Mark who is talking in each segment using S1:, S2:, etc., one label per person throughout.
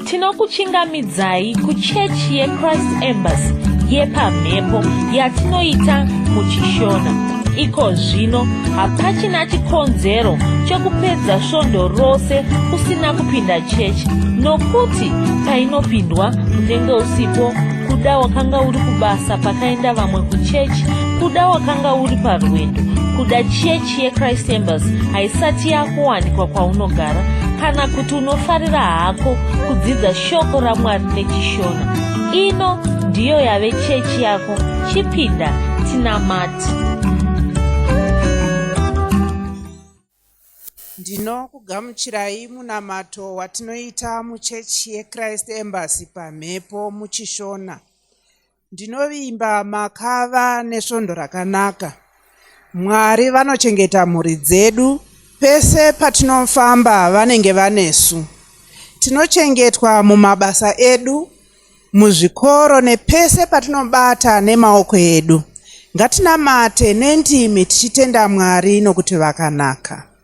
S1: tinokuchingamidzai kuchechi yechrist embassy yepamhepo yatinoita muchishona iko zvino hapachina chikonzero chekupedza svondo rose usina kupinda chechi nokuti painopindwa unenge usipo kuda wakanga uri kubasa pakaenda vamwe kuchechi kuda wakanga uri parwendo kuda chechi chechi yechrist embassy haisati yakuwanikwa kwaunogara kana kuti unofarira hako kudzidza shoko ramwari nechishona ino ndiyo yave chechi yako chipinda tinamati
S2: ndinokugamuchirai munamato watinoita muchechi yechrist embassy pamhepo muchishona Ndinovimba makava nesvondo rakanaka. Mwari vanochengeta mhuri dzedu pese patinofamba vanenge vanesu. Tinochengetwa mumabasa edu, muzvikoro nepese patinobata nemaoko edu. Ngatinamate nendimi tichitenda Mwari nokuti vakanaka.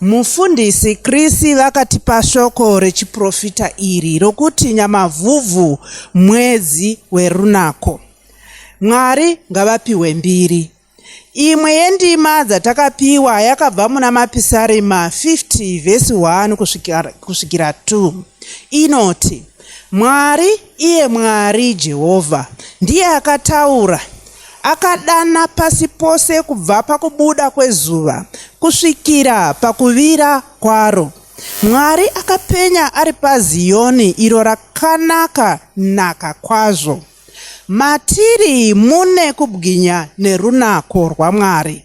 S2: Mufundisi Chris vakatipa shoko rechiprofita iri rokuti Nyamavhuvhu mwedzi werunako. Mwari ngavapiwe mbiri. Imwe yendima dzatakapiwa yakabva muna Mapisarema 50 vhesi 1 kusvikira 2 inoti, Mwari Iye Mwari, Jehovha, ndiye akataura, akadana pasi pose kubva pakubuda kwezuva kusvikira pakuvira kwaro. Mwari akapenya ari paZiyoni, iro rakanaka naka kwazvo. Matiri mune kubwinya nerunako rwaMwari.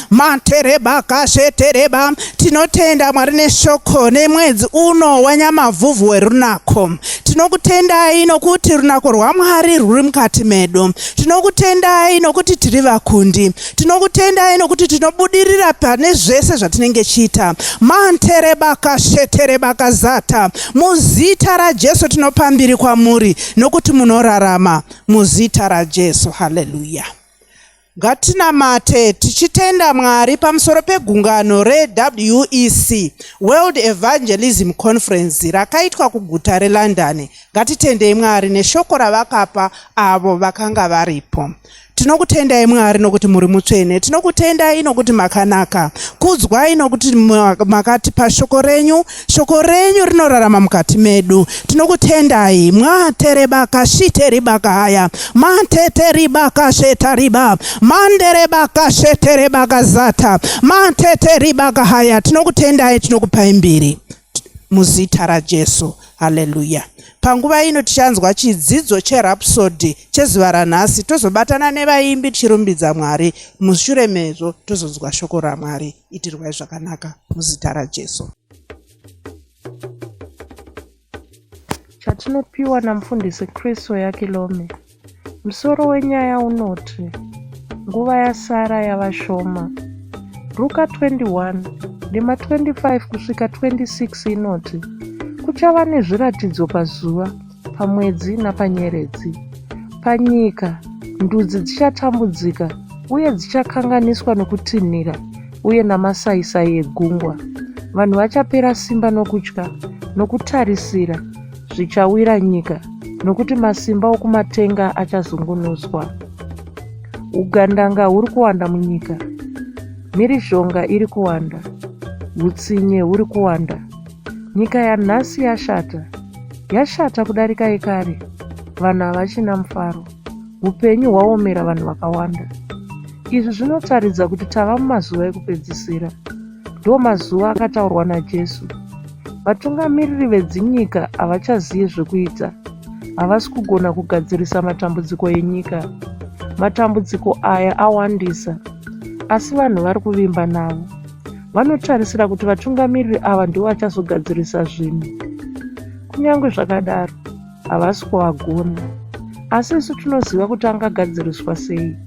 S2: Matereba kashe tereba tinotenda mwari neshoko nemwedzi uno wanyamavhuvhu werunako tinokutendai nokuti runako rwamwari rwuri mukati medu tinokutendai nokuti tiri vakundi tinokutendai nokuti tinobudirira pane zvese zvatinenge chiita mantereba kashe tereba kazata muzita rajesu tinopambiri kwamuri nokuti munorarama muzita rajesu haleluya Ngatinamate tichitenda Mwari pamusoro pegungano reWEC, World Evangelism Conference, rakaitwa kuguta reLondon. Ngatitendei Mwari neshoko ravakapa avo vakanga varipo. Tinokutendai Mwari nokuti muri mutsvene. Tinokutendai nokuti makanaka. Kudzwai nokuti makatipa shoko renyu. Shoko renyu rinorarama mukati medu. Tinokutendai mwaterebaka shiteribaka haya mateteribaka shetariba manderebaka sheterebaka zata mateteribaka haya tinokutendai tinokupai mbiri muzita raJesu. Haleluya. Panguva ino tichanzwa chidzidzo cherhapsodhi chezuva ranhasi tozobatana nevaimbi tichirumbidza Mwari. Mushure mezvo tozonzwa shoko raMwari. itirwai zvakanaka muzita rajesu
S3: chatinopiwa namufundisi kristu yakilome musoro wenyaya unoti nguva yasara yava shoma ruka 21 ndima 25 kusvika 26 inoti kuchava nezviratidzo pazuva pamwedzi napanyeredzi. Panyika, ndudzi dzichatambudzika uye dzichakanganiswa nokutinhira uye namasaisai egungwa. Vanhu vachapera simba nokutya, nokutarisira zvichawira nyika, nokuti masimba okumatenga achazungunuswa. Ugandanga huri kuwanda munyika, mhirizhonga iri kuwanda, utsinye huri kuwanda. Nyika yanhasi yashata. Yashata kudarika yekare. Vanhu havachina mufaro. Upenyu hwaomera vanhu vakawanda. Izvi zvinotaridza kuti tava mumazuva ekupedzisira. Ndiwo mazuva akataurwa naJesu. Vatungamiriri vedzinyika havachaziye zvekuita. Havasi kugona kugadzirisa matambudziko enyika. Matambudziko aya awandisa. Asi vanhu vari kuvimba navo. vanotarisira kuti vatungamiriri ava ndivo vachazogadzirisa zvinhu kunyange zvakadaro havasi kuvagona asi isu tinoziva kuti angagadziriswa sei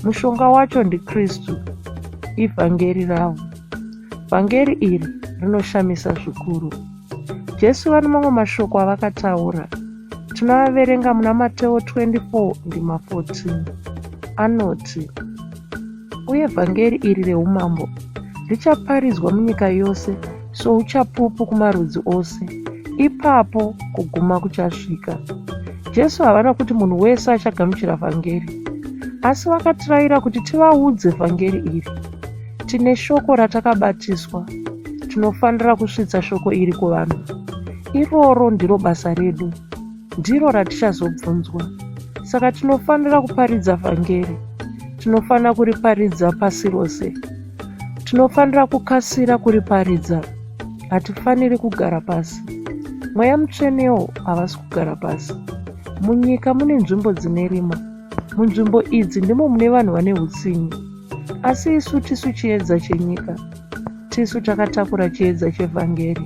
S3: mushonga wacho ndikristu ivhangeri ravo vhangeri iri rinoshamisa zvikuru jesu vane mamwe mashoko avakataura tinoaverenga muna mateo 24 ndima 14 anoti Uye vhangeri iri reumambo richaparidzwa munyika yose souchapupu kumarudzi ose, ipapo kuguma kuchasvika. Jesu havana kuti munhu wese achagamuchira vhangeri, asi vakatiraira kuti tivaudze vhangeri iri. Tine shoko ratakabatiswa, tinofanira kusvitsa shoko iri kuvanhu. Iroro ndiro basa redu. ndiro ratichazobvunzwa. Saka tinofanira kuparidza vhangeri. Tinofanira kuriparidza pasi rose. Tinofanira kukasira kuriparidza. Hatifaniri kugara pasi. Mweya mutsvenewo havasi kugara pasi. Munyika mune nzvimbo dzine rima. Munzvimbo idzi ndimo mune vanhu vane utsinye. Asi isu tisu chiedza chenyika. Tisu takatakura chiedza chevhangeri.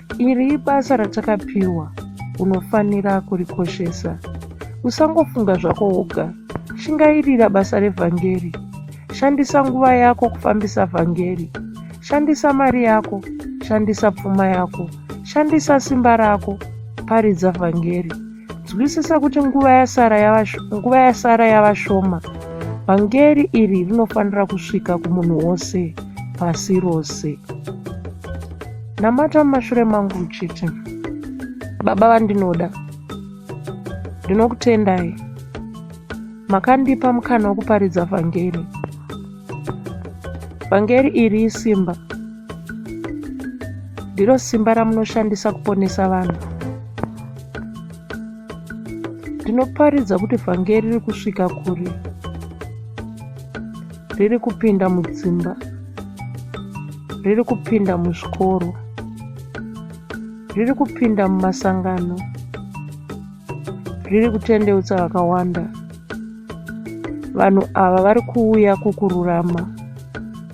S3: Iri ibasa ratakapiwa, unofanira kurikoshesa. Usangofunga zvako woga. Shingairira basa revhangeri. Shandisa nguva yako kufambisa vhangeri. Shandisa mari yako, shandisa pfuma yako, shandisa simba rako, paridza vhangeri. Nzwisisa kuti nguva yasara yava, nguva yasara yava shoma. Vhangeri iri rinofanira kusvika kumunhu wose pasi rose. Namata mumashure mangu uchiti, Baba vandinoda, ndinokutendai. Makandipa mukana wokuparidza vhangeri. Vhangeri iri isimba. Ndiro simba ramunoshandisa kuponesa vanhu. Ndinoparidza kuti vhangeri riri kusvika kure, riri kupinda mudzimba, riri kupinda muzvikoro, riri kupinda mumasangano, riri kutendeutsa vakawanda. Vanhu ava vari kuuya kukururama.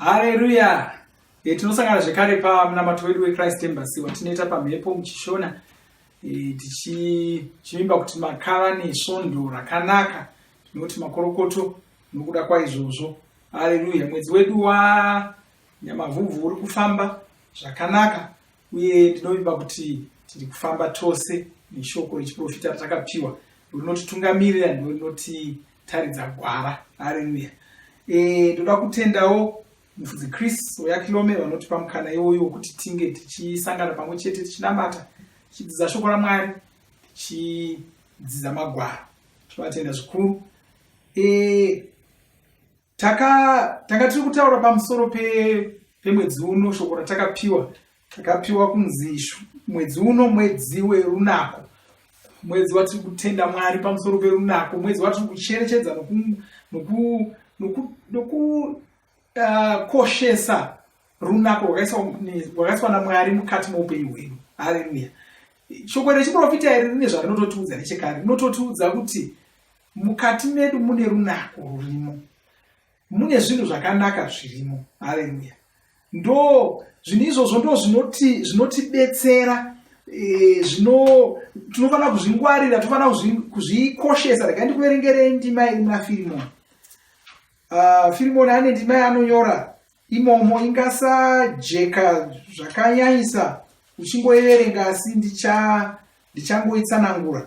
S4: haleluya e, eh, tinosangana zvekare pamunamato wedu wechrist embassy watinoita pamhepo muchishona e, tichivimba kuti makava nesvondo rakanaka tinoti makorokoto nokuda kwaizvozvo haleluya mwedzi wedu wa Nyamavhuvhu uri kufamba zvakanaka uye ndinovimba kuti tiri kufamba tose neshoko rechiprofita ratakapiwa rinotitungamirira ndo rinotitaridza gwara areruya e, ndoda kutendawo mufudzi chris oyakilome vanotipa mukana iwoyo wokuti tinge tichisangana pamwe chete tichinamata tichidzidza shoko ramwari tichidzidza magwaro tovatenda zvikuru e, taka tanga tiri kutaura pamusoro pe pemwedzi uno shoko ratakapiwa takapiwa kunzi mwedzi uno mwedzi werunako mwedzi watiri kutenda mwari pamusoro perunako mwedzi watiri kucherechedza nokukoshesa ah, runako rwakaiswa namwari mukati moupenyu hwedu haleluya shoko rechiprofita iri rine zvarinototiudza nechekare rinototiudza kuti mukati medu mune runako rurimo mune zvinhu zvakanaka zvirimo haleluya ndo zvinhu izvozvo ndo zvinoti zvinotibetsera eh, zvino tinofanira kuzvingwarira tinofanira kuzvikoshesa rega ndikuverengerei ndima iri muna firimoni ah, firimoni ane ndima yaanonyora imomo ingasajeka zvakanyanyisa uchingoiverenga asi ndichangoitsanangura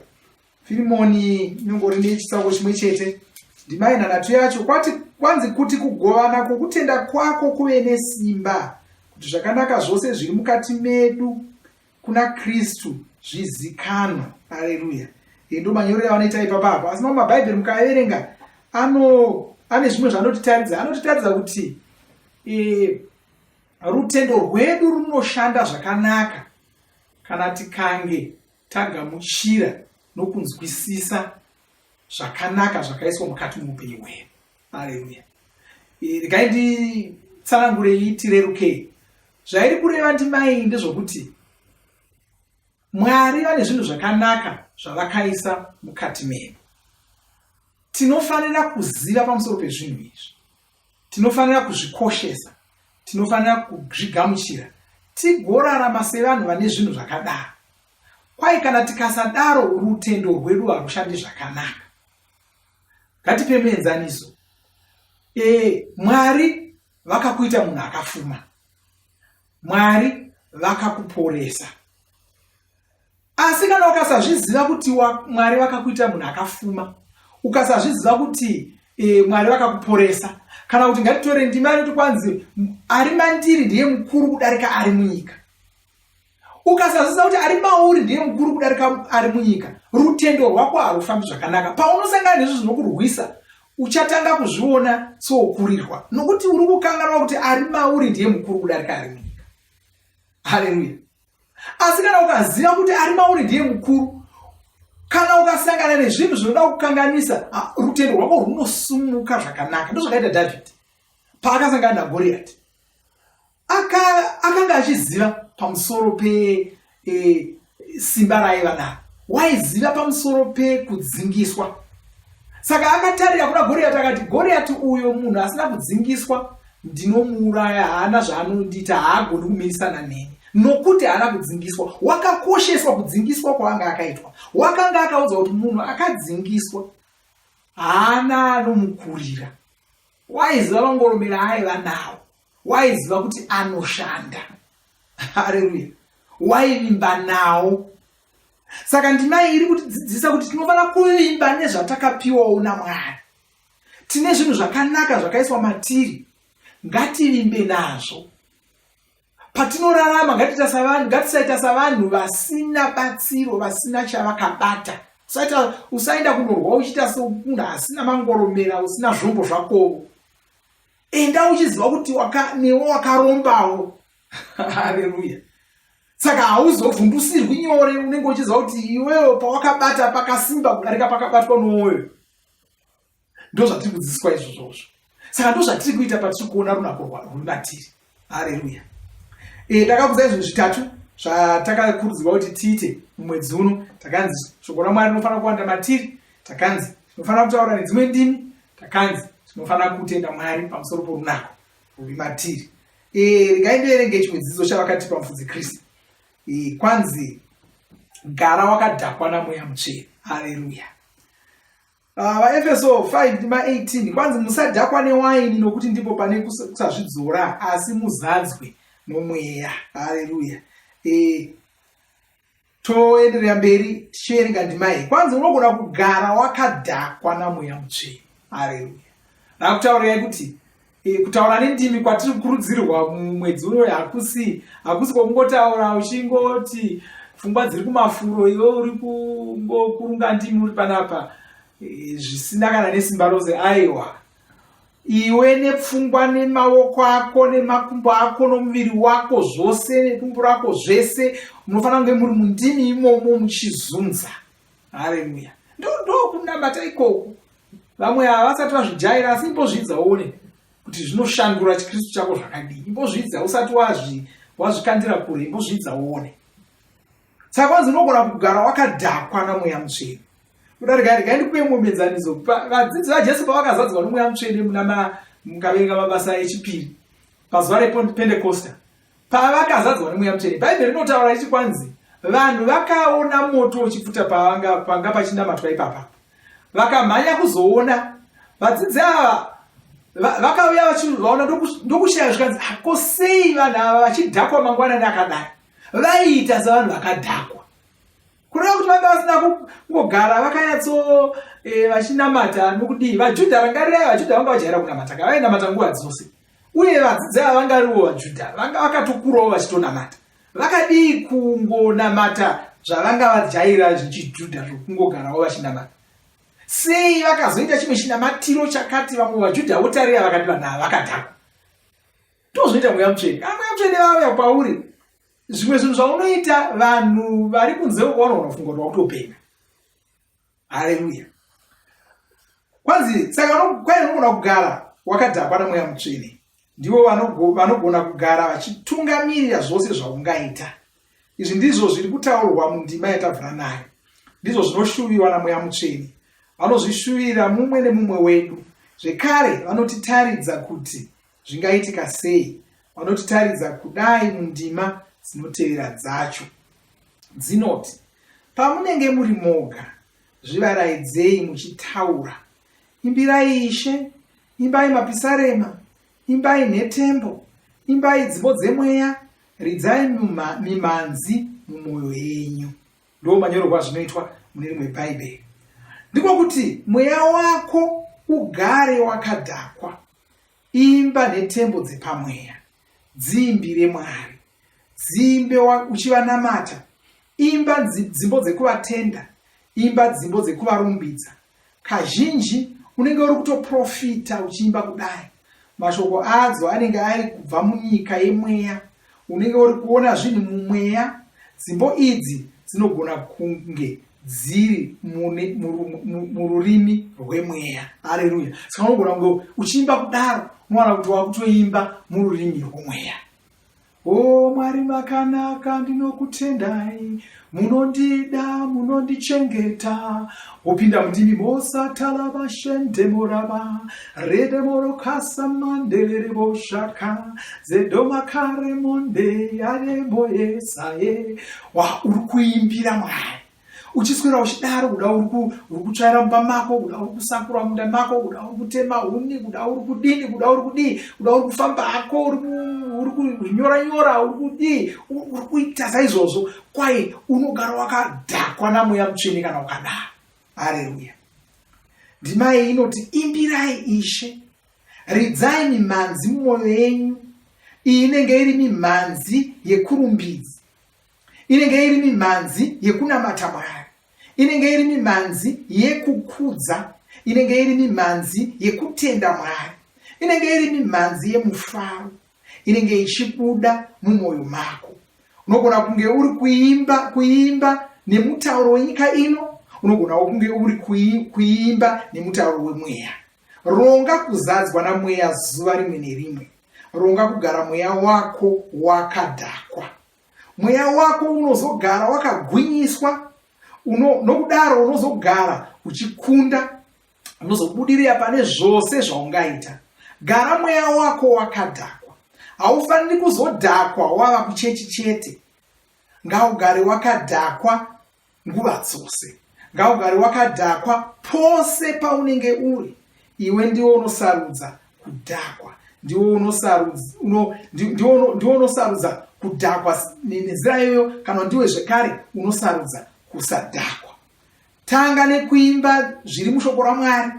S4: firimoni nyongori nechitsauko chimwe chete ndimai nhanhatu yacho kwati kwanzi kuti kugovana kwokutenda kwako kuve nesimba kuti zvakanaka zvose zviri mukati medu kuna kristu zvizikanwa aleluya ndo manyorero avanoita ipapa apo asi mamwe mabhaibheri mukaverenga ano ane zvimwe zvaanotitaridza anotitaridza kuti e, rutendo rwedu runoshanda zvakanaka kana tikange tagamuchira nokunzwisisa zvakanaka zvakaiswa mukati muupenyu hwedu aleluya eh, regai nditsanangure itirerukei zvairi kureva ndimai ndezvokuti mwari vane zvinhu zvakanaka zvavakaisa mukati medu tinofanira kuziva pamusoro pezvinhu izvi Tinofanira kuzvikoshesa, tinofanira kuzvigamuchira, tigorarama sevanhu vane zvinhu zvakadaro. Kwai kana tikasadaro, rutendo rwedu harushandi zvakanaka. Ngatipe muenzaniso. E, Mwari vakakuita munhu akafuma. Mwari vakakuporesa. asi kana ukasazviziva kuti mwari vakakuita munhu akafuma ukasazviziva kuti e, mwari vakakuporesa kana kuti ngatitore ndima inoti kwanzi ari mandiri ndiye mukuru kudarika ari munyika ukasazviziva kuti ari mauri ndiye mukuru kudarika ari munyika rutendo rwako harufambi zvakanaka paunosangana nezvo zvinokurwisa uchatanga kuzviona sokurirwa nokuti uri kukanganwa kuti ari mauri ndiye mukuru kudarika ari munyika haleluya asi kana ukaziva kuti ari mauri ndiye mukuru kana ukasangana nezvinhu zvinoda kukanganisa ah, rutendo rwako rwunosumuka zvakanaka ndozvakaita dhavhidhi paakasangana nagoriyati akanga achiziva pamusoro pesimba e, raiva naro waiziva pamusoro pekudzingiswa saka akatarira kuna goriyati akati goriyati uyo munhu asina kudzingiswa ndinomuuraya haana zvaanondiita haagoni kumirisana neni nokuti haana kudzingiswa wakakosheswa kudzingiswa kwaanga akaitwa wakanga akaudza kuti munhu akadzingiswa haana anomukurira waiziva vangoromera aiva nawo waiziva kuti anoshanda hareruya waivimba nawo saka ndimai iri kutidzidzisa kuti tinofanira kuvimba nezvatakapiwawo namwari tine zvinhu zvakanaka zvakaiswa matiri ngativimbe nazvo patinorarama ngatiita savanhu ngatisaita savanhu vasina batsiro vasina chavakabata saita usaenda kunorwa uchiita semunhu asina mangoromera usina zvombo zvakovo enda uchiziva kuti waka, newe wakarombawo hareruya saka hauzovhundusirwi nyore unenge uchiziva kuti iwewo pawakabata pakasimba kudarika pakabatwa nowoyo ndozvatiri kudzidziswa izvozvozvo saka ndozvatiri kuita patiri kuona runako rwumatiri hareruya eh, ndakakuza izvinhu zvitatu zvatakakurudzirwa kuti tiite mumwedzi uno takanzi shoko ramwari rinofanira kuwanda matiri takanzi tinofanira kutaura nedzimwe ndimi takanzi tinofanira kutenda mwari pamusoro porunako ruri matiri eh, regai ndoerenge chimwe dzidzo chavakatipa mufudzi kristu eh, kwanzi gara wakadhakwa namweya mutsvene hareruya Ah, vaefeso uh, 5 ndima 18 kwanzi musadhakwa newaini nokuti ndipo pane kusazvidzora asi muzadzwe nomweya haleluya e, eh, toenderera mberi tichierenga ndima iyi kwanzi unogona kugara wakadhakwa namweya mutsveni haleluya rakutaurirai kuti E, kutaura nendimi kwatiri kukurudzirwa mumwedzi uno hakusi hakusi kwokungotaura uchingoti pfungwa dziri kumafuro iwe uri kungokurunga ndimi uri panapa e, zvisina kana nesimba rose aiwa iwe nepfungwa nemaoko ako nemakumbo ako nomuviri wako zvose nekumbo rako zvese munofanira kunge muri mundimi imomo muchizunza hareruya ndokunamata ikoko vamwe havasati vazvijaira asi imbozvidza uone kuti zvinoshandura chikristu chako zvakadii imbozvidza usati wazvi wazvikandira kure imbozvidza uone saka kwanzi unogona kugara wakadhakwa namweya mutsvene kuda rega rega ndikupe muenzaniso vadzidzi vajesu pavakazadzwa nomweya mutsvene muna mukaverenga mabasa echipiri pazuva repentecosta Pavakazadzwa nemweya mutsvene, Bhaibheri rinotaura richi kwanzi vanhu vakaona moto uchipfuta pavanga panga pachinamatwa ipapa, vakamhanya kuzoona vadzidzi ava vakauya vachivaona ndokushaya zvikanzi ako ah, sei vanhu ava vachidhakwa mangwanani akadai vaiita sevanhu vakadhakwa kureva kuti vanga vasina kungogara vakanyatso eh, vachinamata nokudii vajudha rangarirai vajudha vanga vajaira kunamata ka vainamata nguva dzose uye vadzidzi ava vangariwo vajudha vanga vakatokurawo vachitonamata vakadii kungonamata zvavanga vajaira zvechijudha zvokungogarawo vachinamata sei vakazoita chimwe chinamatiro chakati vamwe vajudha votarira vakati vanhu ava vakadhakwa tozvoita mweya mutsvene kana mweya mutsvene vauya kwauri zvimwe zvinhu zvaunoita vanhu vari kunze uko vanoona kufunga kuti wakutopenga haleluya kwanzi saka kwai unogona kugara wakadhakwa namweya mutsvene ndivo vanogona kugara vachitungamirira zvose zvaungaita izvi ndizvo zviri kutaurwa mundima yatabvira nayo ndizvo zvinoshuviwa namweya mutsvene vanozvishuvira mumwe nemumwe wedu zvekare vanotitaridza kuti Zvingaitika sei? Vanotitaridza kudai mundima dzinotevera dzacho. Dzinoti, Pamunenge muri moga, zvivaraidzei muchitaura. Imbirai Ishe, imbai mapisarema, imbai nhetembo, imbai dzimbo dzemweya, ridzai mimhanzi mumwoyo yenyu. Ndoo manyorerwa zvinoitwa mune rimwe Bhaibheri. Ndiko kuti mweya wako ugare wakadhakwa. imba netembo dzepamweya dziimbire mwari dzimbe uchivanamata imba dzimbo dzekuvatenda imba dzimbo dzekuvarumbidza kazhinji unenge uri kutoprofita uchiimba kudai mashoko adzo anenge ari kubva munyika yemweya unenge uri kuona zvinhu mumweya dzimbo idzi dzinogona kunge dziri mururimi rwemweya hareruya saka unogona kunge uchiimba kudaro unowana kuti wakutoimba mururimi rwomweya o oh, mwari makanaka ndinokutendai munondida munondichengeta wopinda mundimi mosatala vashende morava rede morokasa mandelere voshaka zedomakare monde yaremoyesaye wa uri kuimbira mwari uchiswera uchidaro kuda uri kutsvaira mumba mako kuda uri kusakura munda mako kuda uri kutema huni kuda uri kudini kuda uri kudii kuda uri kufamba hako uri kunyora nyora uri kudii uri kuita saizvozvo kwai unogara wakadhakwa namweya mutsvene kana ukadaro hareruya ndima iyi inoti imbirai ishe ridzai mimhanzi mumwoyo yenyu iyi inenge iri mimhanzi yekurumbidzi inenge iri mimhanzi yekunamata mwari inenge iri mimhanzi yekukudza inenge iri mimhanzi yekutenda mwari inenge iri mimhanzi yemufaro inenge ichibuda mumwoyo mako unogona kunge uri kuimba kuimba nemutauro wenyika ino unogonawo kunge uri kuimba nemutauro wemweya ronga kuzadzwa namweya zuva rimwe nerimwe ronga kugara mweya wako wakadhakwa mweya wako unozogara wakagwinyiswa uno, nokudaro unozogara uchikunda unozobudirira pane zvose zvaungaita gara mweya wako wakadhakwa haufaniri kuzodhakwa wava kuchechi chete ngaugare wakadhakwa nguva dzose. Ngaugare wakadhakwa pose paunenge uri. Iwe ndiwo unosarudza kudhakwa. Ndiwo unosarudza, uno, ndiwo, ndiwo unosarudza kudhakwa nenzira iyoyo kana ndiwe zvekare unosarudza kusadhakwa. Tanga nekuimba zviri mushoko raMwari.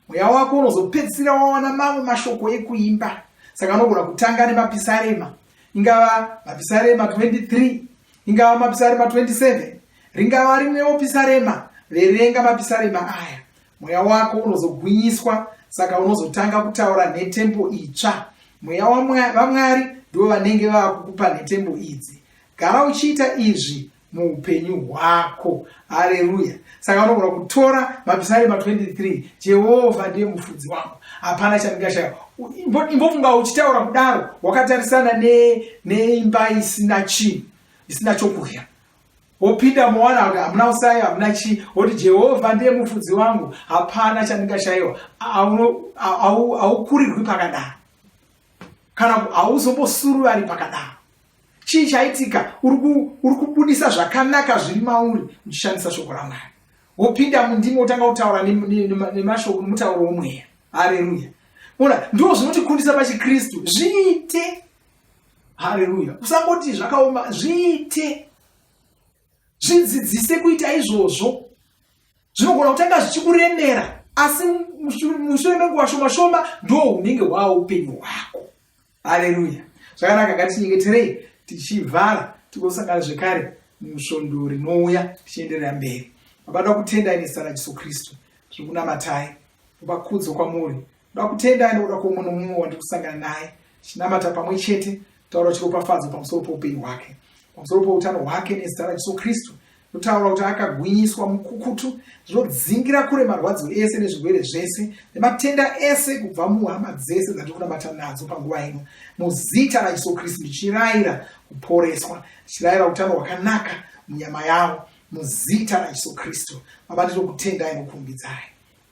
S4: Mweya wako unozopedzisira wawana mamwe mashoko ekuimba. Saka unogona kutanga nemapisarema. Ingava mapisarema 23 ingava mapisarema 27 ringava rimwewo pisarema verenga mapisarema aya mweya wako unozogwinyiswa saka unozotanga kutaura nhetembo itsva mweya vamwari ndivo vanenge vava kukupa nhetembo idzi gara uchiita izvi muupenyu hwako hareruya saka unogona kutora mapisarema 23 jehovha ndiye mufudzi wangu hapana chandingashaya imbofunga uchitaura kudaro wakatarisana neimba ne isina chii isina chokudya wopinda mowana kuti hamuna usayo hamuna chii woti jehovha ndiye mufudzi wangu hapana chandingashayiwa haukurirwi pakadaro kana hauzombosuruvari pakadaro chii chaitika uri kubudisa zvakanaka zviri mauri uchishandisa shoko ramwari wopinda mundimi wotanga kutaura nemashoko nomutauro womweya hareruya ona ndo zvinotikumbisa pachikristu zviite hareruya usangoti zvakaoma zviite zvidzidzise kuita izvozvo zvinogona kutanga zvichikuremera asi mushure menguva shoma shoma ndo unenge hwaa upenyu hwako haleluya zvakanaka ngatinyengeterei tichivhara tigosangana zvekare musvondo rinouya tichienderera mberi baba da kutendai nezita rajesu kristu zviri kunamatai kupa kudzo kwamuri da kutendai nekuda kwoumwe nomumwe wandiri kusangana naye chinamata pamwe chete taura chiropafadzo pamusoro poupenyu hwake pamusoro poutano hwake nezita rajesu kristu Kutaura kuti akagwinyiswa mukukutu zvodzingira kure marwadzo ese nezvirwere zvese nematenda ese kubva muhama dzese dzatiri kunamata nadzo panguva ino muzita raJesu Kristu ndichirayira kuporeswa ndichirayira utano hwakanaka munyama yavo muzita raJesu Kristu baba ndinokutendai nokurumbidzai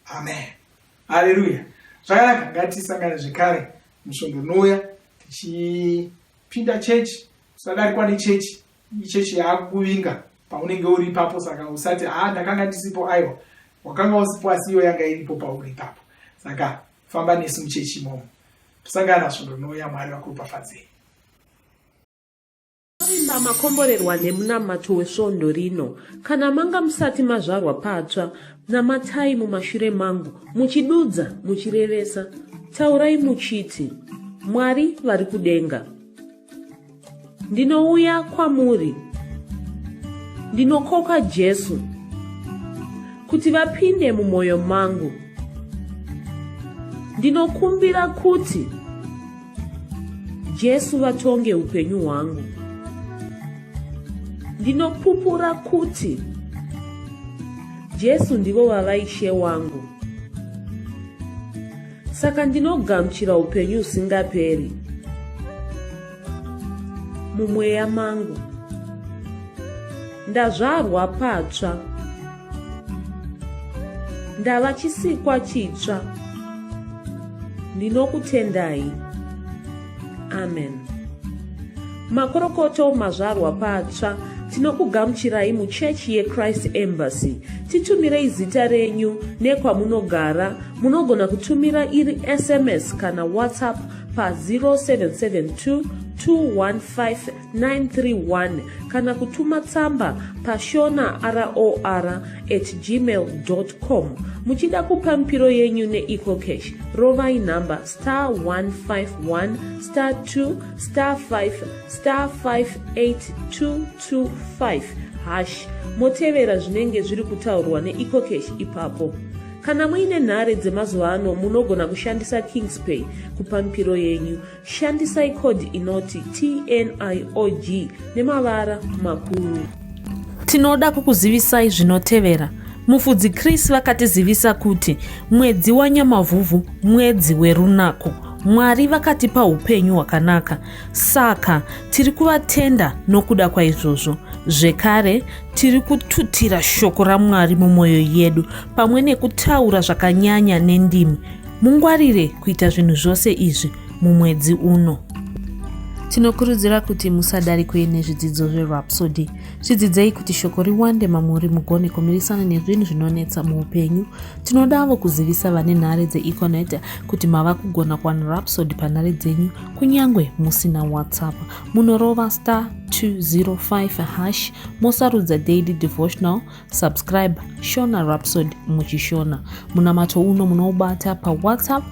S4: amen haleluya zvakanaka ngatisangane zvekare musvondo unouya tichipinda chechi tisadarikwa nechechi ichechi yaakuvinga paunenge uri ipapo saka usati haa ndakanga ndisipo aiwa wakanga usipo asi iyo yanga iripo pauri ipapo saka famba nesu muchechi imomo tosangana svondo nouya mwari vakuropafadzei
S1: Vimba makomborerwa nemunamato wesvondo rino. Kana manga musati mazvarwa patsva, namatai mumashure mangu, muchidudza, muchirevesa. Taurai muchiti, Mwari vari kudenga. ndinouya kwamuri ndinokoka jesu kuti vapinde mumwoyo mangu ndinokumbira kuti jesu vatonge upenyu hwangu ndinopupura kuti jesu ndivo vavaishe wangu saka ndinogamuchira upenyu usingaperi mumweya mangu ndazvarwa patsva ndava chisikwa chitsva ndinokutendai amen makorokoto mazvarwa patsva tinokugamuchirai muchechi yechrist embassy titumirei zita renyu nekwamunogara munogona kutumira iri sms kana whatsapp pa 0772 215 931 kana kutuma tsamba pashona ror at gmail com muchida kupa mipiro yenyu neecocash rovai nhamba star 151 star 2 star 5 star 58225 hash motevera zvinenge zviri kutaurwa neecocash ipapo kana muine nhare dzemazuva ano munogona kushandisa kingspay kupa mipiro yenyu Shandisai code inoti TNIOG nemavara makuru. Tinoda kukuzivisai zvinotevera. Mufudzi Chris vakatizivisa kuti mwedzi waNyamavhuvhu mwedzi werunako. Mwari vakatipa upenyu hwakanaka. Saka tiri kuvatenda nokuda kwaizvozvo. Zvekare, tiri kututira shoko raMwari mumwoyo yedu pamwe nekutaura zvakanyanya nendimi. Mungwarire kuita zvinhu zvose izvi mumwedzi uno. Tinokurudzira kuti musadarikwe nezvidzidzo zverhapsody. Zvidzidzei kuti shoko riwande mamuri mugone kumirisana nezvinhu zvinonetsa muupenyu. Tinodavo kuzivisa vane nhare dzeeconet kuti mava kugona kuwana rhapsody panhare dzenyu kunyange musina whatsapp. Munorova star 205 hash mosarudza daily devotional Subscribe Shona Rhapsody muchishona. Munamato uno munoubata pa WhatsApp,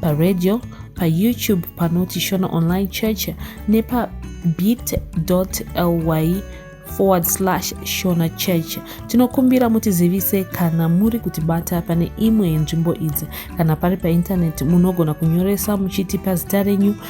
S1: pa radio, pa YouTube panoti Shona Online Church nepa bit.ly forward slash shona church tinokumbira mutizivise kana muri kutibata pane imwe yenzvimbo idzi kana pari paintaneti munogona kunyoresa muchitipa zita renyu